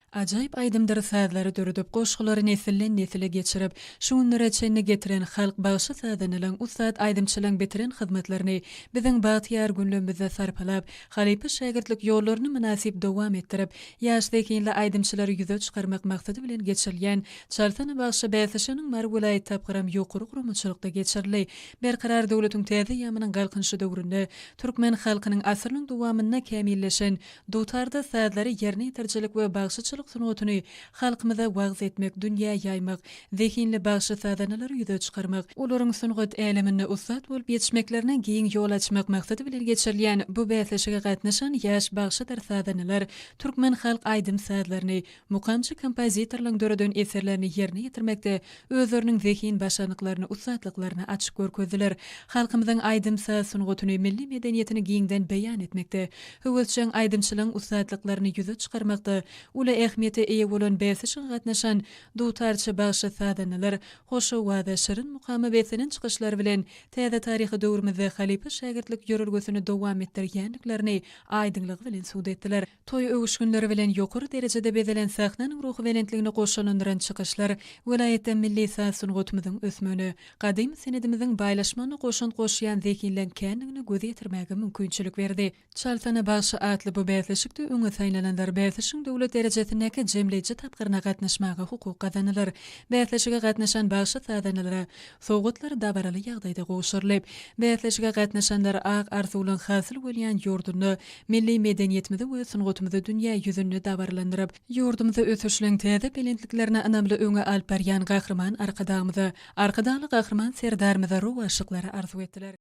Ajaýyp aýdymdyr sazlary döredip, goşgulary nesilden nesile geçirip, şu günlere çenli getiren halk bagşy sazandalaň, ussat aýdymçylaň bitiren hyzmatlaryny biziň bagtyýar günlemizde sarpalap, halypa-şägirtlik ýollaryny mynasyp dowam etdirip, ýaş zehinli aýdymçylary ýüze çykarmak maksady bilen geçirilýän Çalsana bagşy bäsleşiginiň Mary welaýat tapgyram ýokary guramaçylykda geçirildi. Berkarar döwletiň täze ýamynyň Galkynyşy döwründe türkmen halkynyň asyrynyň dowamynda kämilleşen Dutarda sazlary ýerine ýetirjilik we bagşyçylyk sungatyny halkymyza wagyz etmek, dünýä ýaýmak, zehinli bagşy-sazanalary ýüze çykarmak, olaryň sungat äleminde ussat bolup ýetişmeklerine giň ýol açmak maksady bilen geçirilýän bu bäsleşige gatnaşan ýaş bagşydyr sazanalar türkmen halk aýdym-sazlaryny, Mukamçy kompozitorlaň döreden eserlerini ýerine ýetirmekde özleriniň zehin başarnyklaryny, ussatlyklaryny açyk görkezdiler. Halkymyzyň aýdym-saz sungatyny, milli medeniýetini giňden beýan etmekde, höwesjeň aýdymçylaň ussatlyklaryny ýüze çykarmakda uly ähmiýete eýe bolan bäsleşige gatnaşan dutarçy bagşy-sazandalar hoşowaza şirin mukama beslenen çykyşlary bilen täze taryhy döwrümizde halypa-şägirtlik ýörelgesini dowam etdirýändiklerini aýdyňlygy bilen subut etdiler. Toý öwüşginleri bilen ýokary derejede bezelen sahnanyň ruhubelentligini goşalandyran çykyşlar welaýatda milli saz-sungatymyzyň ösmegine, gadymy senedimiziň baýlaşmagyna goşant goşýan zehinleň kändigine göz ýetirmäge mümkinçilik berdi. Çal sana bagşy atly bu bäsleşikde öňe saýlananlar bäsleşigiň döwlet derejesindäki jemleýji tapgyryna gatnaşmaga hukuk gazandylar. Bäsleşige gatnaşan bagşy-sazandalara Sowgatlar dabaraly ýagdaýda gowşurylyp, bäsleşige gatnaşanlar ak arzuwlaryň hasyl bolýan ýurdunda milli medeniýetimizi we sungatymyzy dünýä ýüzünde dabaralandyryp, ýurdumyzy ösüşleriň täze belentliklerine ynamly öňe alyp barýan Gahryman Arkadagymyza, Arkadagly Gahryman Serdarymyza rowaçlyklary arzuw etdiler.